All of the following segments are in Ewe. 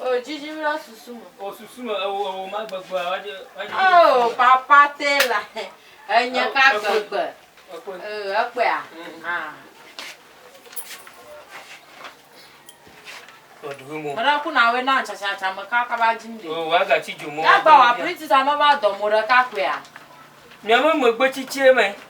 O jiji mi ɖe susu me. O susu me ewo ewo ma gbegbe awa dze. O papa te la enye ka gbegbe. Ekpe. Ekpe a. Ah. mena ku na we na chachacha me ka ka ba jim de o wa ga chi jumo ya ba wa priti ta no ba do mo re ka ku ya nyame me gbe chichie me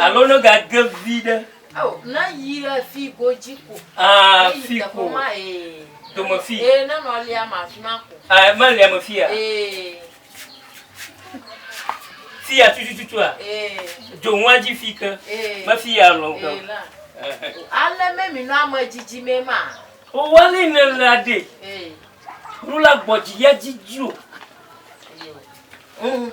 Alo ne gage vi ɖe. Ao, ne yi le fi godzi ko. Aa, fi ko. Ma ee. Dome fi. Ee, ne nɔ lia ma fi ma ko. Aa, ma lia ma fi ya. Ee. Fi ya tutu tutu a. Ee. Jo nwa ji fi ke. Ee. Ma fi ya lo ke. Ee la. Ale me mi no ama jiji me ma. O wali ne la de. Ee. Rula gbɔdzi ya jiji o. Ee. Mm.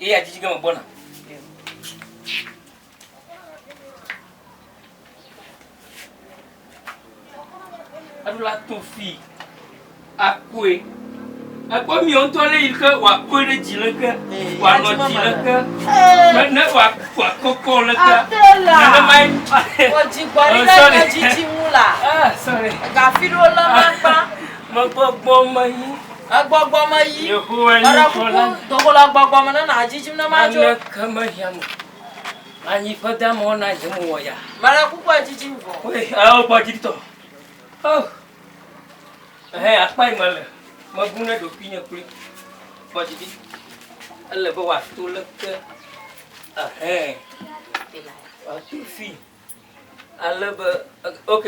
Ye ya dzidzi ge megbɔna. Eɖo la to fi akue. Ekpɔ miɔ ŋutɔ lé yi ke wòakue ɖe dzi leke, eh, wòanɔ dzi leke, eh. ne wòakɔkɔ leke. Nenemae. Wòdzi gbɔ ɖi leke eh, dzidzi ŋu la. Gafi ɖo lema kpa. Megbɔgbɔ me yi. Egbɔgbɔ me yi. Yehowa nye Meɖe kuku, Tsɔla. do go le egbɔgbɔ me ne nàdzidzim ne madzo. Naneke mehiã mo. Anyi ƒe damawo na nye mo wɔ yaa. Meɖe kuku adzidzim vɔ. Woe, ao gbɔ dzi tɔ. Oh! Ɛhɛ, akpae mele. Mebu ne ɖokuinye kloe. Kpɔ dzi ɖi. Ele be wòato leke? Ɛhɛ. Wòato fii. Ale be, ok,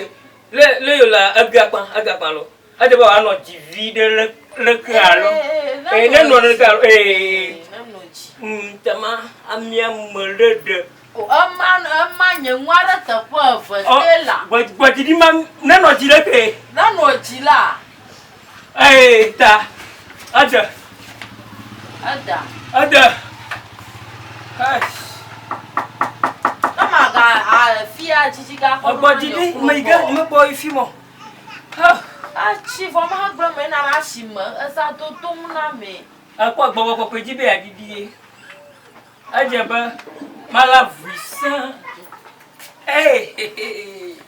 le le yo la ebia kpa ebia kpa lo. Edze be wòanɔ dzi viɖe le le ke alo ee ne nɔ ɖe ke alo ee ŋutama amia me ɖe ɖe. O ema ema nye nua ɖe teƒe eve ke la. Gbɔdzi ɖi ma nenɔ dzi ɖe ke. Nenɔ dzi la. Eye ta ede. Eda. Ede. Kama ga afia jiji ga kɔ. Egbɔ jiji me yi ke me kpɔ yi fi mɔ. Atsi vɔ me ha gblɔ me na la si me eza do to mu na me. Ekpɔ gbɔgbɔ kɔkɔe ji be ya didi ye. Edze be mala vui sã. Ee.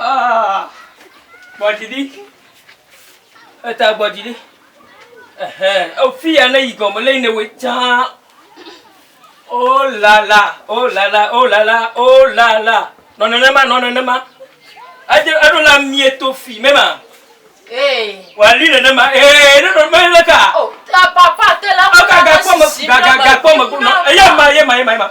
Ah, gbɔdzi ɖi. Eta gbɔdzi ɖi. Ehɛ, efi ya ne yi gɔme le ne we tsa. Oh la la, oh la la, oh la la, oh la la. Nɔ nenema, nɔ nenema. Ade eɖo la mie to fi mema. Ee. Wali nenema. Ee, ne ɖo mele ka. Oh, ta papa te la. Aga ga kpɔ me, ga ga ga kpɔ me. Eya ma, eya ma, eya ma, eya ma.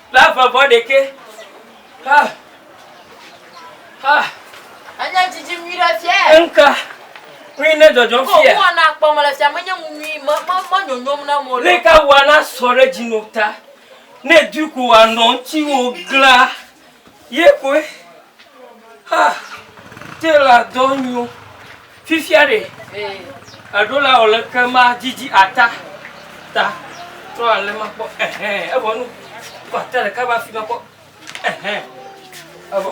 La vɔvɔ ɖekɛ. Ha. Ha. Anya dzidzim nyui ɖe fia. Enka. Kpli ne dzɔdzɔ fia. Ko wana kpɔ me le fia menye nu nyui me me me nyonyom na mo. Ne ka wana sɔ ɖe dzi no ta. Ne du ko wanɔ ŋutsi wo gla. Ye koe. Ah, tailor dɔ nyo. Fifia ɖe. Eɖo la wòle ke ma didi ata. Ta. Trɔ ale ma kpɔ. Ehɛn, evɔ nu. Kɔ ata ɖeka va fi ma kpɔ. Ehɛn. Evɔ.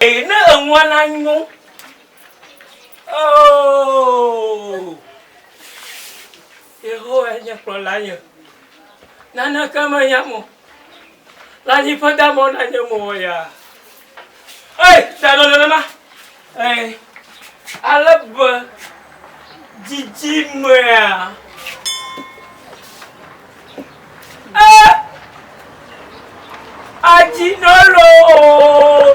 Eye ne enua na nyo. Oh. Yehowae nye kplɔlanye, naneke mehiãm o. Lãnyiƒe da mɔ na nye mo wɔyaa. Ei, da nɔ nenema. Ei, ale be dzidzimea. Ee, adzi nɔ loo.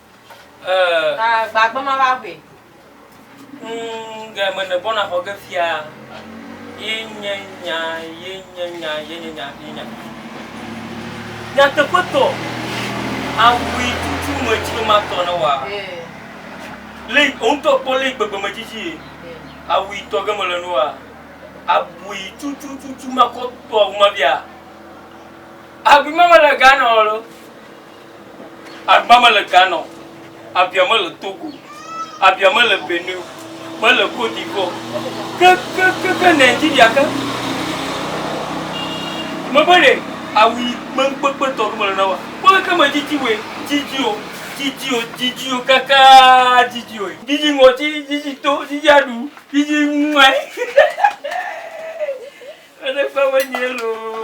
Ee. Ta gbagbe ma va ʋui. Ŋ ge me ne bɔna xɔ ge fia. Ye nye nya, ye nye nya, ye nye nya, ye nya. Nyateƒetɔ, aʋui tutu me dzi be ma tɔ ne wa. Ee. Le yi wo ŋutɔ kpɔ le yi gbegbe me dzidzi ye. Ee. Aʋui tɔ ge me le nu wa. Aʋui tutu tutu ma kɔ tɔ wu ma bia. Aʋui ma me le ga nɔ lo. Agba mele Ghana o, Abia mele Togo o, Abia mele Benin o, mele Côte d'Ivoire o, ke ke ke ke Nigeria ke. Mebe ɖe awu yi kpekpekpe tɔ ɖo mele na woa? Kpɔle ke me dzidzi woe, dzidzi o, dzidzi o, dzidzi o kakaa dzidzi oe. Dzidzi ŋɔti, dzidzi to, dzidzi aɖu, dzidzi mɔe. Eɖe kpɔ be nyee loo.